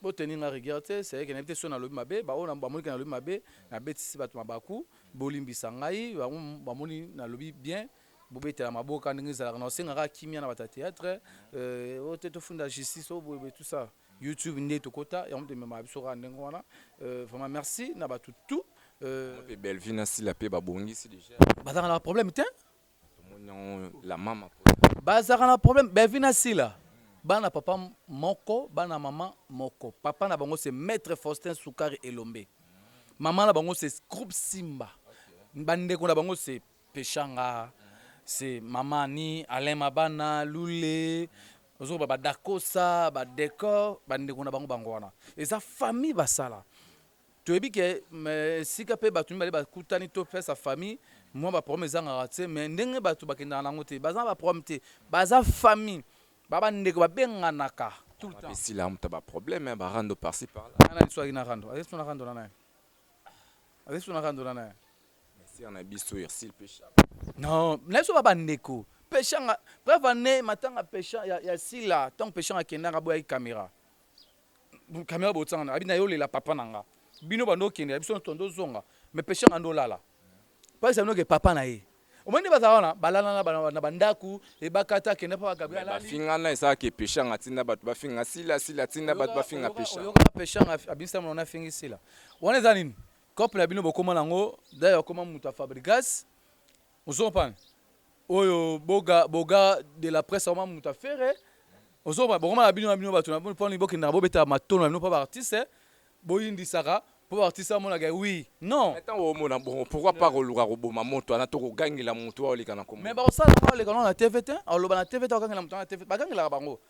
Bo tenir nga rigueur te, c'est vrai que nayebi te soki nalobi mabe, ba oyo bamoni que nalobi mabe, nabetisi batu mabaku, bolimbisa ngai, bango bamoni nalobi bien, bobetela maboka ndenge ezalaka, nakosenga kaka kimia na batu ya theatre, euh, oyo te tofunda justice, oyo boye boye tout ça, YouTube nde tokota, yango mutu ememaka biso kaka ndenge wana, euh, vraiment merci na batu tout, euh. Pe Bellevue na Sila pe babongisi dejà? Bazalaka na ba problème tein. bazalaka na problème bevi na sila bana papa moko bana mama moko papa na bango se maître faustin sukari elombe mama na bango se groupe simba bandeko na bango se peshanga se mama ni alain mabana lule ozokoba badakosa badecor bandeko na bango bango wana eza famille basala Toyebi ke esika pe batu mibale bakutani to face ya famille mua ba problème ezangaka tse mais ndenge batu bakendaka na yango te baza na ba problème te baza famille ba ba ndeko babenganaka tout le temps esila muta ba problème ba rando par ci par là nani lisusu ayaki na rando azali lisusu na rando na naye azali lisusu na rando na naye sœur na biso Ursule Pesha non na biso ba ba ndeko Peshanga preuve année matanga Pesha ya, ya Sila tant Peshanga kendaka boyaki caméra Camera botsanga na abi na yo lela papa na nga. Bino bando kende ya biso tondo zonga. Me pesha nga ndo lala. Pasi aminoke papa na ye. Omoni nde bazala wana balala na bana na bandaku ebakata kende papa Gabriel alali. Bafinga na esala ke pesha nga tinda bato bafinga sila sila tinda bato bafinga pesha. Oyoka na pesha nga abisa mona na fingi sila. Wana eza nini? Couple ya bino bokoma na ngo dai okoma muta Fabrigas. Ozo comprendre? Oyo boga boga de la presse vraiment mutu ya ferre. Ozo comprendre? Boko mona bino na bino batu na bino pona bo kendaka bo betaka matono na bino po ba artistes bo yindisaka po ba artistes ba mona ke oui non. Mais tango o mona bongo pourquoi pas ko luka ko boma moto wana to ko gangela mutu wana oleka na ko mona? Mais bako sala yango aleka nao na TV te, a loba na TV te, a gangela mutu wana na TV, ba gangelaka bango.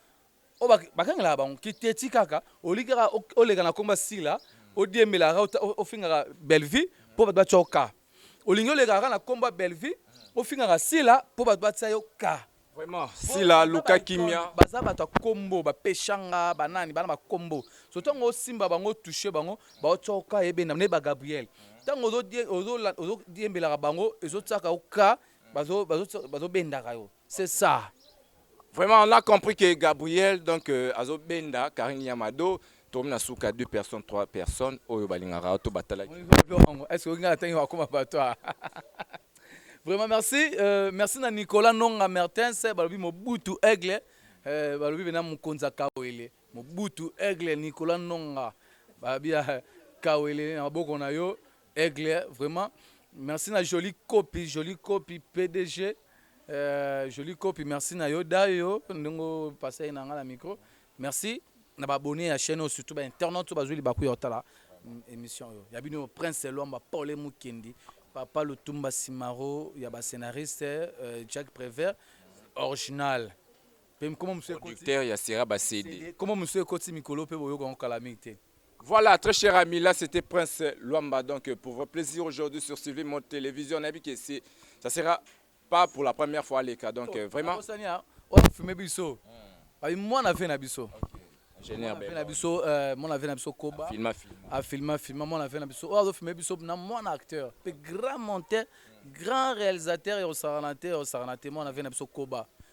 Oyo ba ba gangelaka bango ki teti kaka o lingi kaka o leka na kombo ya Sila o diembelaka kaka o fingaka Bellevue po batu ba tia yo cas. Olingi oleka kaka na kombo ya Bellevue, ofingaka Sila po bato batia yo cas. Vraiment sila luka kimia. Baza batu ya kombo ba peshanga ba nani bana ba kombo so tango osimba bango o touche bango bao tia yo cas ebenda nde ba Gabriel tango ozo ozo ozo diembelaka bango ezo tiaka yo cas bazo bazo bendaka yo. C'est ça. Vraiment, on a compris que Gabriel, donc, euh, azo benda, Karine Yamado, tomi na suka, deux personnes, trois personnes, oyo balingaka, to batala. Est-ce que nga atangi wakoma batwa? Vraiment, merci. Euh, merci na Nicolas Nonga Mertens, balobi Mobutu Aigle, euh, balobi bena Mukonza Kawele, Mobutu Aigle, Nicolas Nonga, babia Kawele, na maboko na yo, Aigle vraiment merci na jolie copie jolie copie PDG euh, jolie copie merci na yo dayo ndongo passer na nga na micro merci na ba abonné ya chaîne surtout ba internautes ba zuli ba kuya otala mm, émission yo ya bino prince Lwamba Paul Mukendi papa Lutumba Simaro ya ba scénariste euh, Jack Prévert original Pe kombo mosusu ekoti. Producteur ya Sera ba CD. Kombo mosusu ekoti mikolo pe boyoka yango kala mingi te. Voilà, très cher ami, là c'était Prince Luamba. Donc, euh, pour votre plaisir aujourd'hui sur Sylvie Mode Télévision, on a vu que c'est, ça sera pas pour la première fois les cas. Donc, euh, vraiment, Abosani ya oyo afilme biso. Abi mwana vie na biso. ingénieur Mwana vie na Bella, biso, euh, mwana vie na biso Koba. filma, filma. afilma filma mwana vie na biso oyo azofilme biso na mwana acteur mpe grand monteur grand réalisateur ya osakana te ya osakana te mwana vie na biso koba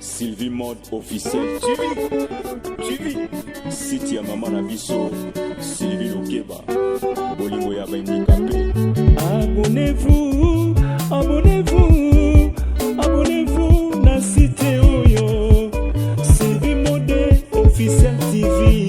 Sylvie Mode officiel TV TV site ya mama na biso Sylvie Lukeba bolingo ya baindikape abonnez-vous abonnez-vous abonnez-vous na site oyo Sylvie Mode officiel TV